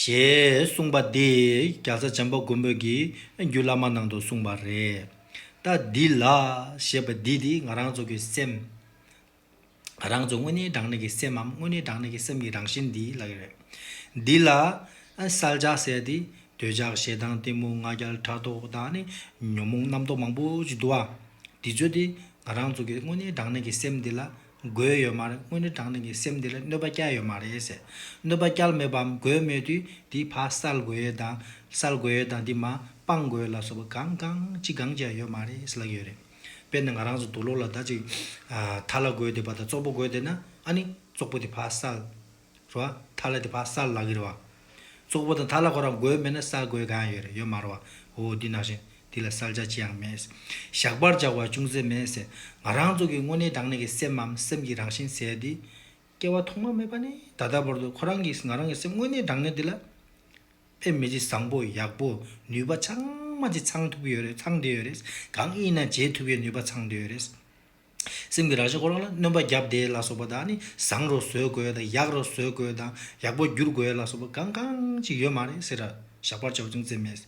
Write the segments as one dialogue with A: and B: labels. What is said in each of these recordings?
A: ཞེས་གསུངས་པ་འདི་རྒྱ་བཟའ་བྱམས་པ་མགོན་པོས་ཀྱི་རྒྱུད་བླ་མ་ནང་དུ་གསུངས་པ་རེད། ལྟ་འདི་ལ། ཞེས་པ་འདི་དེ་ང་རང་ཚོ་གི་སེམས། ང་རང་ཚོ་དངོས་གནས་དྲང་གནས་ཀྱི་སེམས་འམ་དངོས་གནས་དྲང་གནས་ཀྱི་སེམས་ཀྱི་རང་བཞིན་འདི་ལ་ཡོད་རེད། འདི་ལ། གསལ་ཆ་གསལ་ཏེ། འདོད་ཆགས་ཞེ་སྡང་གཏི་མུག་ང་རྒྱལ་ཕྲག་དོག་དང་ནི། ཉོན་མོངས་རྣམ་རྟོག་མང་པོ་ཅིག་འདུ་བ། འདི་ཚོ་དེ་ང་རང་ཚོ་གི་དངོས་གནས་དྲང་གནས་ཀྱི་སེམས་འདི་ལ་དགོས་ཡོད་མ་རེད་དངོས་གནས་དྲང་བདེན་གྱི་སེམས་འདི་ལ་གནོད་པ་བསྐྱལ་ཡོད་མ་རེད། གནོད་པ་བསྐྱལ་མེད་པའམ་དགོས་མེད་དུས་འདི་ཕ་གསལ་དགོས་ཡོད་དང་གསལ་དགོས་ཡོད་དང་འདི་མ་སྤང་དགོས་ཡོད་ལ་སོགས་པ་གང་གང་ཅི་གང་ཅི་ཡང་ཡོད་མ་རེད་ལགས་ཡོད་རེད། དཔེར་ན་ང་རང་ཚོ་དུག་ལོག་ལ་ད་ཅིག་ད་ལ་དགོས་བསྡད་པ་དང་ཙོག་པོ་དགོས་བསྡད་ན་ཨ་ནི་ཙོག་པོ་དེ་ཕ་གསལ། རེད་བ། ཐ་ལ་དེ་བག་གསར་ལག་གི་རེད་བ། ཙོག་པུ་དང་ཐ་ལ་ཁོ་རང་དགོས་མེད་ན་གསར་དགོས་གང་ཡང་ཡོད་རེད་ཡོད་མ་རེད་བ། འོ་འདི་ནང་བཞིན་འདི་ལ་གསར་བྱ་ཅི་ཡང་མེད། ཞག་པར་བཞག་བ་ཅུང་ཟད་མེད། ང་རང་ཚོ་གི་དངོས་གནས་དྲང་གནས་ཀྱི་སེམས་འམ་སེམས་ཀྱི་རང་བཞིན་ཟེར་ཡ་འདི། སྐྱེ་བ་ཐོག་མ་མེད་པ་ནས་ད་ལྟ་བར་དུ་ཁོ་རང་གིས་ང་རང་གི་སེམས་དངོས་གནས་དྲང་གནས་འདི་ལ། ཕན་མི་བྱེད་བཟང་པོ་ཡག་པོ་ནུས་པ་ཚང་མ་ཅིག་ཚང་ཐུབ་ཀྱི་ཡོད་རེད་ཚང་བསྡད་ཡོད་རེད་གང་ཡིན་ན་བྱེད་ཐུབ་ཡའི་ནུས་པ་ཚང་བསྡད་ཡོད་རེད། སེམས་ཀྱི་རང་བཞིན་ཁོ་རང་ལ་གནོན་པ་བརྒྱབ་སྟེ་ལ་སོགས་པ་དག་ནི་བཟང་རུ་བཟོས་དགོས་དང་ཡག་རུ་བཟོས་དགོས་དང་ཡག་པོ་བསྒྱུར་དགོས་ལ་སོགས་པ་གང་གང་ཅིག་ཡོད་མ་རེད་ཟེར། ཞགས་པར་བྱའོ་ཅུང་ཟད་སྨྲས།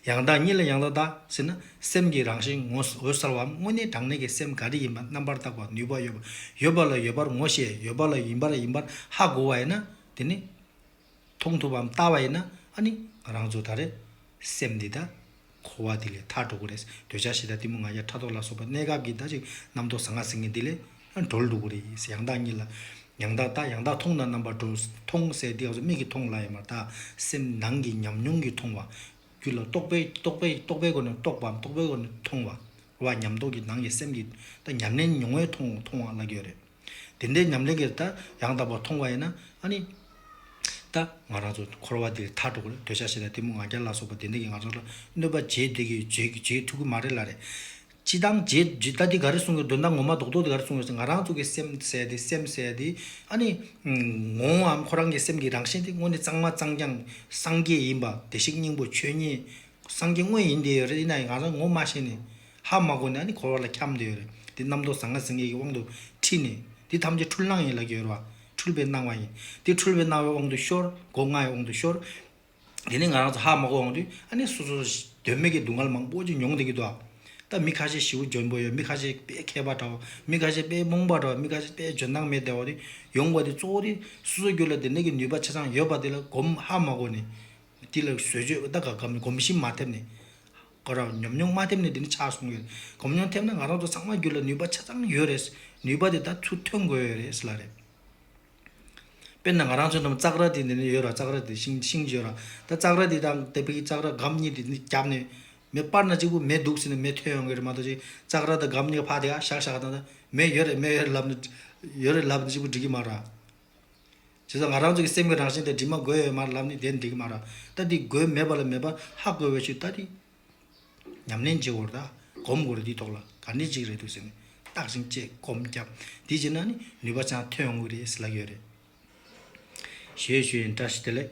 A: ཡང་དག་ཉིད་ལ་ཡང་དག་དག་ཟེར་ན་སེམས་ཀྱི་རང་བཞིན་ངོ་འོད་གསལ་བའམ་དངོས་གནས་དྲང་གནས་ཀྱི་སེམས་ག་རེ་ཡིན་པ་རྣམ་པར་བརྟག་པར་ནུས་པ་ཡོད་པ་ཡོད་པ་ལ་ཡོད་པར་ངོ་ཤེས་ཡོད་པ་ལ་ཡིན་པར་ཡིན་པར་ཧ་གོ་བ་ཡིན་ན་དེ་ནི། མཐོང་ཐུབ་བམ་ལྟ་བ་ཡིན་ན་ཨ་ནི་རང་ཚོ་ད་རེས་སེམས་འདི་དང་གོ་བ་འདི་ལས་ཐར་འགྲོ་དགོས་རེད་འདོད་ཆགས་ཞེ་དྲག་གཏི་མུག་ང་རྒྱལ་ཕྲག་དོག་ལ་སོགས་པ་གནས་སྐབས་ཀྱི་ད་ཅིག་རྣམ་རྟོག་ཟང་ང་ཟིང་ངེ་འདི་ལས་གྲོལ་འགྲོ་དགོས་རེད་ཡང་དག་གཉིད་ལ་ཡང་དག་ལྟ་ཡང་དག་མཐོང་དང་རྣམ་པར་འགྲོ་མཐོང་གསལ་འདི་ང་ཚོ་མིག་གིས་མཐོང་སླ་ཡང་མར་དག་སེམས་ནང་གི་ཉམས་མྱོང་གིས་མཐོང་བ། རྒྱུད་ལ་རྟོག་པས་རྟོག་པས་རྟོག་པའི་སྒོ་ནས་རྟོགས་པའམ་རྟོག་པའི་སྒོ་ནས་མཐོང་བ། རོ་བ་ཉམས་རྟོགས་ཀྱི་ནང་གི་སེམས་ཀྱི་ད་ཉམས་ལེན་མྱོང་བས་མཐོང་བ་ལ་དགོས་རེད། དེ་འདྲའི་ཉམས་ལེན་གྱིས་ད་ཡང་དག་པར་མཐོང་བ་ཡིན་ན་ནི། ད་ང་རང་ཚོ་འཁོར་བ་འདིར་མཐར་འགྲོ་དགོས་ལ་འདོད་ཆགས་ཞེ་དྲག་གཏི་མུག་ང་རྒྱལ་ལ་སོགས་པ་དེ་འདྲ་གིས་ང་ཚོ་ལ་གནོད་པ་རྗེས་འདེད་ཀྱི་རྗེས་ཐུག་གི་མ་རེད་ལ་རེད། ཅི་སྟངས་རྗེས་ད་འདི་ག་རེ་གསུངས་ཡོད་འདོད་ན་ངོ་མ་རྡོག་རྡོག་འདི་ག་རེ་གསུངས་ཡོད་ཟེར་ང་རང་ཚོ་གི་སེམས་གསལ་ཏེ་སེམས་གསལ་ཏེ། ཨ་ནི། ངོ་བོའམ་ཁོ་རང་གི་སེམས་ཀྱི་རང་བཞིན་དེ་དངོས་ནི་གཙང་མ་གཙང་རྐྱང་སངས་རྒྱས་ཡིན་པ་བདེ་གཤེགས་སྙིང་པོ་ཆོས་ཉིད་སངས་རྒྱས་དངོས་ཡིན་དེ་རེད་ཡིན་ནའི་ང་རང་ངོ་མ་ཤེས་ནས། ཧ་མ་གོ་ནས་ནི་འཁོར་བ་ལ་འཁྱམས་ཏེ་ཡོད། དེ་རྣམ་རྟོག་ཟང་ངེ་ཟིང་ངེ་གི་དབང་དུ་ཁྲིད་ནས། འདི་ཐམས་ཅད་འཁྲུལ་སྣང་ཡིན་ལགས་ཀྱི་ཡོད། འཁྲུལ་པའི་སྣང་བ་ཡིན། འདི་འཁྲུལ་པའི་སྣང་བའི་དབང་དུ་ཤོར། སྒོ་ལྔའི་དབང་དུ་ཤོར། དེ་ནི་ང་རང་ཚོ་ཧ་མ་གོ་འོང་དུས་ཨ་ནི་སོ་སོ་དོན་མེད་ཀྱི་སྡུག་བསྔལ་མང་པོ་ཅིག་མྱོང་བསྡད་ཀྱི་འདུག་ད་མི་ཁ་ཤས་ཞི་བོ་འཇོན་པོ་ཡོད་མི་ཁ་ཤས་དཔེ་མཁས་པ་འདྲ་བོ་མི་ཁ་ཤས་དཔེ་རྨོངས་པ་འདྲ་བོ་མི་ཁ་ཤས་དཔེ་འཇོན་ཐང་མེད་བསྡད་བ་དེ་ཡོང་བ་དེ་གཙོ་བོ་དེ་སོ་སོ་རྒྱུད་ལ་དེ་འདྲ་གི་ནུས་པ་ཆ་ཚང་ཡོད་པ་དེ་ལ་གོམས་ཧ་མ་གོ་ནས། དེ་ལ་བཟོད་བརྗོད་ད་ག་གམ་གོམས་གཤིས་མ་ཐེབས་ནས། དགའ་རོགས་ཉམས་མྱོང་མ་ཐེབས་ནས་འདི་ནས་ཆགས་སོང་ཡོད་གོམས་མྱོང་ཐེབས་ན་ང་རང་ཚོ་ཚང་མ་རྒྱུད་ལ་ནུས་པ་ཆ་ཚང་ཡོད་རེད་ནུས་པ་དེ་དག་ཚུར་ཐོན་དགོས་ཡོད་རེད་ལ་རེད། དཔེར་ན་ང་རང་ཚོའི་འགྲམ་ཙག་ར་དེ་འདི་ནས་ཡོད་ར་ཙག་ར་དེ་ཤིང་ཤིང་བརྗོད་ར་ད་ཙག་ར་དེ་དང་དེ་དཔེ་གི་ཙག་ར་སྒམ་གཉིས་དེ་རྒྱབ་ནས་མེ་སྤར་ན་གཅིག་པུ་མེ་ལྡུགས་ཟིན་ན་མེ་ཐོན་ཡོང་གི་རེད་མ་གཏོགས་ཅིག་ཙག་ར་དང་སྒམ་གཉིས་ཀ་ཕག་དེ་ཨ་ཞག་ཞག་དང་ད་མེ་ཡོད་རེད་མེ་ཡོད་རེད་ལབ་ན་ཡོད་རེད་ལབ་ན་གཅིག་པུ་འགྲིག་གི་མ་ར། བྱས་ཙང་ང་རང་ཚོ་གི་སེམས་ཀྱི་རང་བཞིན་དེ་འདྲི་མ་དགོས་ཡོད་མར་ལབ་ནི་དེ་འགྲིག་གི་མ་རག་ད་འདི་དགོས་མེད་པ་ལ་མེད་པར་ཧ་དགོས་བའི་ཕྱིར་ད་འདི་ཉམས་ལེན་བྱེད་འོར་ད་གོམས་འོར་འདི་ཐོག་ལ་ག་འདྲི་ཅིག་རེད་འདུག་ཟེར་ནས་བརྟག་ཅིང་དཔྱད་གོམས་བརྒྱབ་འདི་བྱེད་ན་ནི་ནུས་པ་ཆང་ཐོན་འོང་གི་རེད་ཟེར་ལ་ཡོད་རེད། ཞེས་ཞུས་ཡིན་བཀྲ་ཤིས་བདེ་ལེགས།